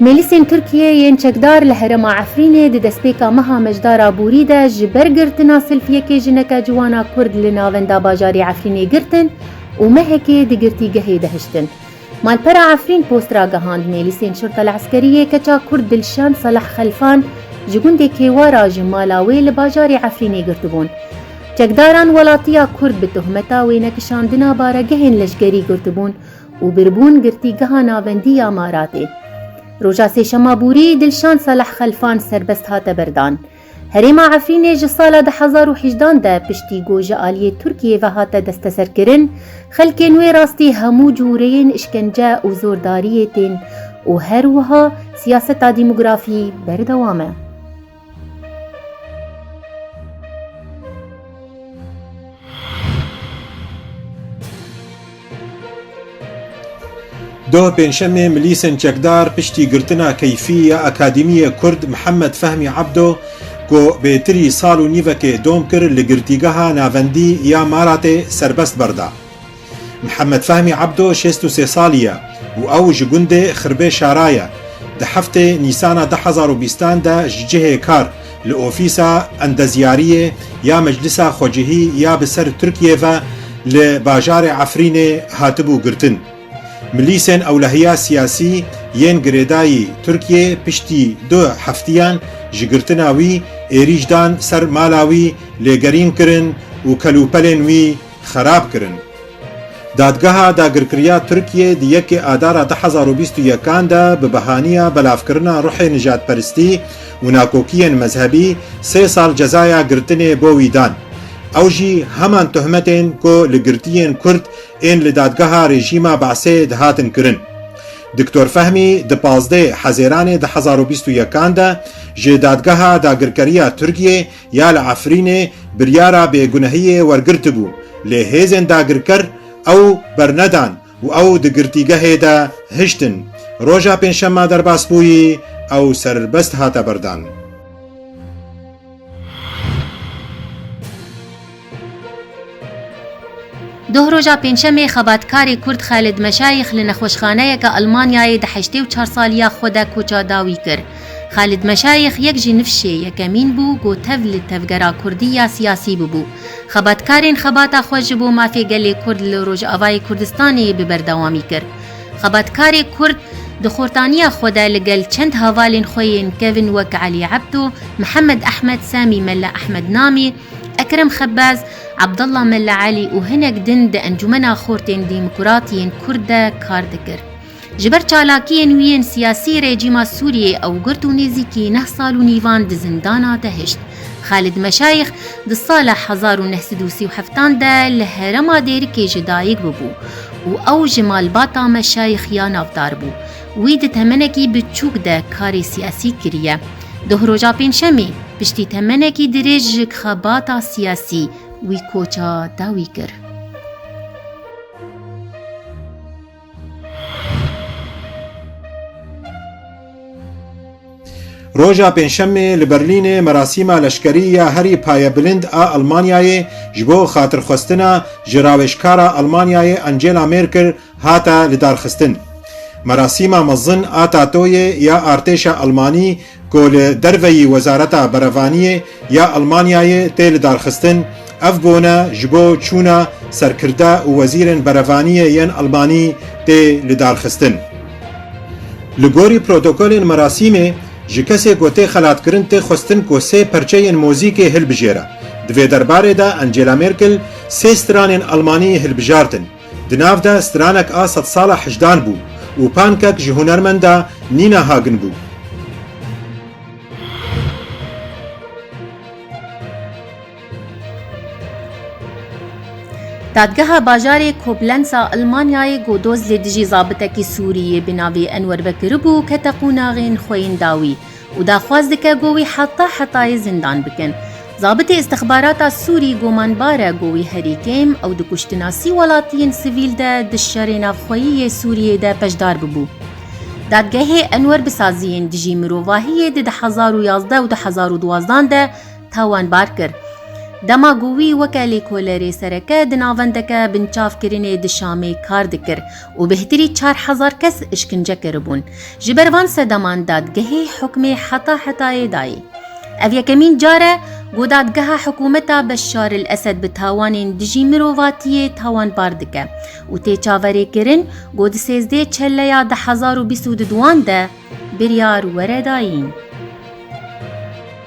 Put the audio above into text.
Mêlisên Tirkiyê yên çekdar li herêma Efrînê di destpêka meha Mejdar Abûrî de ji ber girtina selfiyekê jineke ciwana Kurd li navenda bajarî Efrînê girtin û mehekê di girtîgehê de hiştin. Malpera Efrîn post ragihand mêlisên Şurta li Eskeriyê keça Kurd Dilşan Saleh Xelfan ji gundê Kêwara ji mala wê li bajarî Efrînê girtibûn. Çekdaran welatiya Kurd bi tohmeta wênekişandina baregehên leşkerî girtibûn û birbûn girtîgeha navendî ya Maratê. Roja Sêşema borî Dilşan Saleh Xelfan serbest hate berdan. Herêma Efrînê ji sala du hezar û hejdan de piştî ku ji aliyê Tirkiyê ve hate desteserkirin, xelkên wê rastî hemû cureyên îşkence û zordariyê tên û her wiha siyaseta demografî berdewam e. Doh Pêncşemê milîsên çekdar piştî girtina keyfî ya Akademiyê Kurd Mihemed Fehmî Ebdo ku bêtirî sal û nîvekê dom kir li Girtîgeha Navendî ya Maratê serbest berda. Mihemed Fehmî Ebdo şêst û sê salî ye û ew ji gundê Xirbê Şara ye. Di heftê Nîsana du hezar û bîstan de ji cihê kar li ofîsa endezyariyê ya Meclisa Xwecihî ya bi ser Tirkiyê ve li bajarê Efrînê hatibû girtin. Milîsên ewlehiya siyasî yên girêdayî Tirkiyê piştî du heftiyan ji girtina wî êrîş dan ser mala wî, lêgerîn kirin û kelûpelên wî xerab kirin. Dadgeha Dagirkiriya Tirkiyê di yekê Adara du hezar û bîst û yekan de bi behaniya belavkirina ruhê nijadperistî û nakokiyên mezhebî sê sal cezaya girtinê bo wî dan. Ew jî heman tohmetên ku li girtiyên Kurd ên li dadgeha rejîma Be'sê dihatin kirin. Diktor Fehmî di pazdeh Hezêranê du hezar û bîst û yekan de ji Dadgeha Dagirkeriya Tirkiyê Ya li Efrînê biryara bêgunehiyê wergirtibû, lê hêzên dagirker ew bernedan û ew di girtîgehê de hiştin. Roja Pêncşema derbas bûyî, ew serbest hate berdan. Doh roja pêncşemê xebatkarê Kurd Xalid Meşayîx li nexweşxaneyeke Elmanyayê di heştê û çar saliya xwe de koça dawî kir. Xalid Meşayîx yek ji nifşê yekemîn bû ku tev li tevgera Kurdî ya siyasî bibû. Xebatkarên xebata xwe ji bo mafê gelê Kurd li Rojavayê Kurdistanê bi berdewamî kir. Xebatkarê Kurd di xortaniya xwe de li gel çend havalên xwe yên kevn wek Elî Ebto, Mihemed Ehmed, Samî Mele Ehmed Namî, Ekrem Xebaz, Abdullah Mella Elî û hinek din di Encûmena Xortên Dîmkurat yên Kurd de kar dikir. Ji ber çalakiyên wî yên siyasî rejîma Sûriyê ew girt û nêzîkî neh sal û nîvan di zindana de hişt. Xalid Meşayîx di sala hezar û neh sed û sî û heftan de li herema Dêrikê jî dayik bûbû û ew ji malbata Meşayîx ya navdar bû. Wî di temenekî biçûk de karê siyasî kiriye. Doh roja pêncşemê piştî temenekî dirêj ji xebata siyasî wî koça dawî kir. Roja pênşemê li Berlînê merasîma leşkerî ya herî payebilind a Elmanyayê ji bo xatirxwestina ji rawêjkara Elmanyayê Angela Merkel Hate lidarxistin. Merasîma mezin a tatoyê ya artêşa Elmanî ku li derveyî Wezareta Berevaniyê ya Elmanyayê tê lidarxistin, ev bûne ji bo çûna serkirde û wezîrên berevaniyê yên Elmanî tê lidarxistin. Li gorî protokolên merasîmê, ji kesê ku tê xelatkirin tê xwestin ku sê perçeyên mozîkê hilbijêre. Di vê derbarê de Angela Merkel sê stranên Elmanî hilbijartin. Di nav de stranek a sedsala hicdan bû û pankek ji hunermenda Nina Hagen bû. Dadgeha bajarê Koblenz a Elmanyayê got doz li dijî zabitekî Sûrî yê bi navê Enwer Bekirî bû kete qûnaxên xwe yên dawî. û daxwaz dike ku wî heta hetayê zindan bikin. Zabitê îstixbarata Sûrî gumanbar e ku wî herî kêm ew di kuştina sî welatiyên sivîl de di şerê navxweyî yê Sûriyê de beşdar bibû. Dadgehê Enwer Bisaziyên Dijî Mirovahiyê di du hezar û yazdeh û du hezar û duwazdan de tawanbar kir. Dema ku wî weke lêkolerê sereke di navendeke binçavkirinê di Şamê kar dikir û bêhtirî çar hezar kes îşkince kiribûn. Ji ber van sedaman dadgehê hukmê heta hetayê dayê. Ev yekemîn car e ku dadgeha hikûmeta Beşar el Esed bi tawanên dijî mirovatiyê tawanbar dike û tê çaverêkirin ku di sêzdê çeleya du hezar û bîst û du wan de biryar were dayîn.